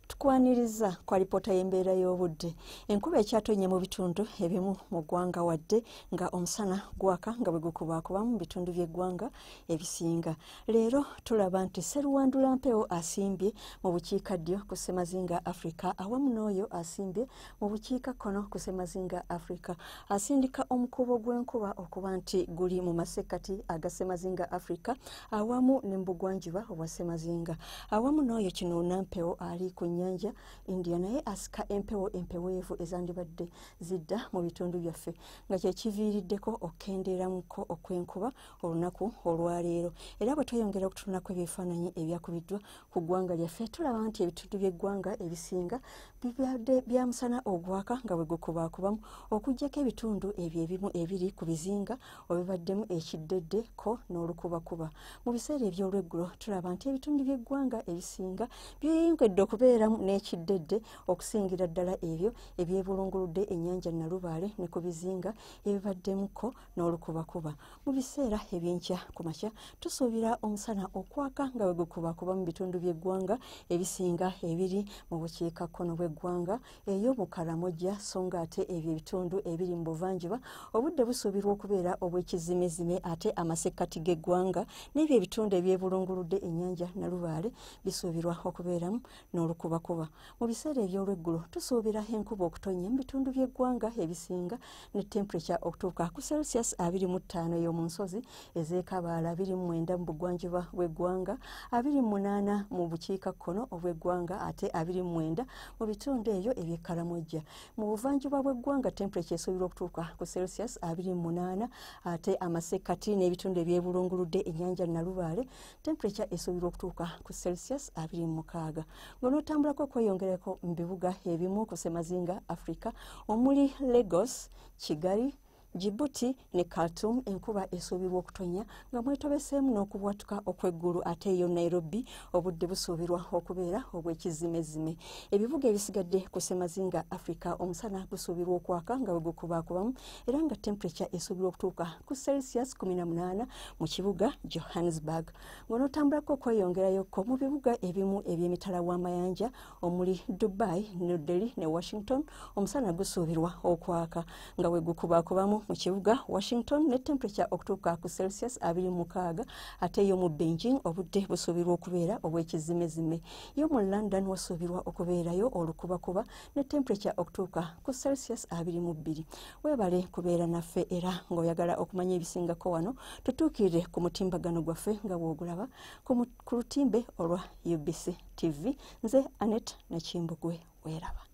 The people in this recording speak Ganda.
tukwaniriza kwa lipoota y'embeera y'obudde enkuba ekyatonye mu bitundu ebimu mu ggwanga wadde nga omusana gwaka nga bwe gukubaakuba mu bitundu by'eggwanga ebisinga leero tulaba nti seruwandula mpewo asimbye mu bukiika ddyo ku ssemazinga africa awamu n'oyo asimbye mu bukiikakkono ku semazinga africa asindika omukubo gw'enkuba okuba nti guli mu masekkati aga semazinga africa awamu ne mu bugwanjuba obwa semazinga awamu n'oyo kino nampewo ali ku nnyanja india naye asika empewo empeweevu ezandibadde zidda mu bitundu byaffe nga kyekiviiriddeko okukendeeramuko okw'enkuba olunaku olwaleero era bwe tweyongera okutunulako ebyefaananyi ebyakubiddwa ku ggwanga lyaffe tulaba nti ebitundu by'eggwanga ebisinga bibadde bya musana ogwaka nga bwe gukubaakubamu okuggyako ebitundu ebyo ebimu ebiri ku bizinga obibaddemu ekiddedde ko n'olukubakuba mu biseera eby'olweggulo tulaba nti ebitundu by'eggwanga ebisinga byeyongedde okubeeramu n'ekiddedde okusingira ddala ebyo ebyebulunguludde ennyanja nalubaale ne ku bizinga ebibaddemu ko n'olukubakuba mu biseera ebyenkya ku makya tusuubira omusana okwaka nga bwe gukubakuba mu bitundu by'eggwanga ebisinga ebiri mu bukiika kkono bw'eggwanga eyo mu karamojja so nga ate ebyo ebitundu ebiri mu buvanjuba obudde busuubirwa okubeera obw'ekizimezime ate amasekkati g'eggwanga n'ebyo ebitundu ebyebulunguludde ennyanja nalubaale bisuubirwa okubeeramu n'olukubakuba mu biseera eby'olweggulo tusuubira enkuba okutonya mu bitundu by'eggwanga ebisinga ne temperature okutuuka ku celsius 25 ey'omu nsozi ez'ekabaala 29 mu bugwanjuba bw'eggwanga 28 mu bukiika kkono obw'eggwanga ate 29 mu bitundu eyo eby'ekkalamojja mu buvanjuba bw'eggwanga temperature esuubirwa okutuuka ku celsius 28 ate amasekkati n'ebitundu ebyebulunguludde ennyanja nalubaale temperature esuubirwa okutuuka ku celsius 26 ng'onootambulako okweyongereko mu bibuga ebimu ku semazinga africa omuli lagos kigali jibuti ne khartum enkuba esuubirwa okutonya nga mwetobeseemu n'okubwatuka okw'eggulu ate eyo nairobi obudde busuubirwa okubeera obw'ekizimezime ebibuga ebisigadde ku semazinga africa omusana gusuubirwa okwaka nga bwe gukubaakubamu era nga temperature esuubirwa okutuuka ku celsius 18 mu kibuga johannesburg ng'onootambulako okweyongerayoko mu bibuga ebimu eby'emitala w'amayanja omuli dubai new delhi ne washington omusana gusuubirwa okwaka nga bwe gukubakubamu mu kibuga washington ne temperature okutuuka ku celsius 26 ate yo mu beijing obudde busuubirwa okubeera obw'ekizimezime yo mu london wasuubirwa okubeerayo olukubakuba ne temperature okutuuka ku celsius 22 webale kubeera naffe era ng'oyagala okumanya ebisingako wano tutuukirire ku mutimbagano gwaffe nga bw'ogulaba ku lutimbe olwa ubc tv nze anet nakimbugwe weeraba